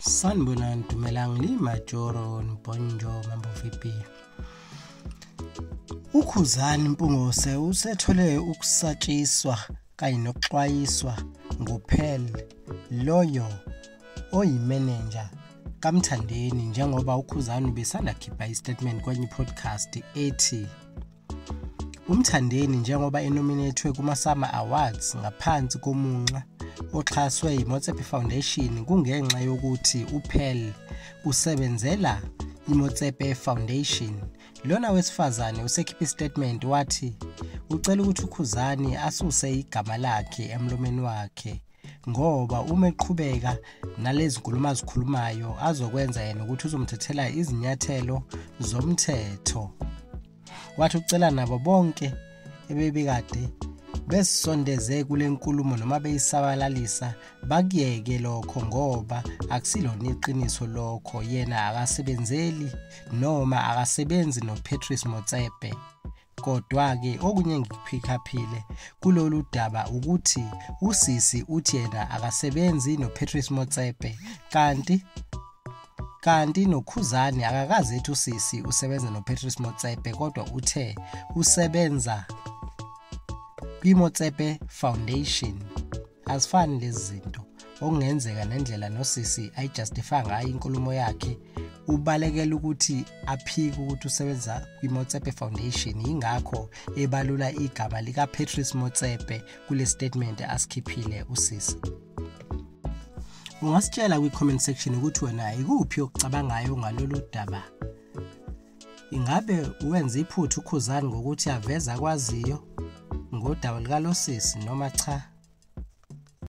sanibonani dumelang le majoro nibonjo mambo vipi ukhuzani mpungose usethole ukusatshiswa kanye nokuxwayiswa nguphel loyo oyimenenja kamthandeni njengoba ukhuzani ubesanda khipha istatement kwenye ipodcast ethi Umthandeni njengoba enominethwe kuma-Summer Awards ngaphansi komunxa oxhaswe yiMotsepe Foundation kungenxa yokuthi uPearl usebenzela iMotsepe Foundation. Lona wesifazane usekhiphe istatement wathi ucela ukuthi uKhuzani asuse igama lakhe emlomeni wakhe ngoba uma eqhubeka nalezi nkulumo azikhulumayo azokwenza yena ukuthi uzomthethela izinyathelo zomthetho wathi ucela nabo bonke ebebekade besisondeze kule nkulumo noma beyisabalalisa bakuyeke lokho ngoba akusilona iqiniso lokho yena akasebenzeli noma akasebenzi noPatrice Motsepe Kodwa-ke okunye engikuphikhaphile kulolu daba ukuthi usisi uthi yena akasebenzi noPatrice Motsepe kanti kanti noKhuzani akakaze ethi usisi usebenza noPatrice Motsepe kodwa uthe usebenza kwiMotsepe Foundation. azifani lezi zinto okungenzeka nendlela nosisi ayijustify ngayo inkulumo yakhe ubalekela ukuthi aphike ukuthi usebenza kwi-motsepe foundation yingakho ebalula igama likapatrice motsepe kule statement asikhiphile usisi ungasitshela kwi-comment section ukuthi wena ikuphi okucabangayo ngalolu daba Ingabe wenza iphutha uKhuzani ngokuthi aveza kwaziyo ngodaba lukalosisi noma cha?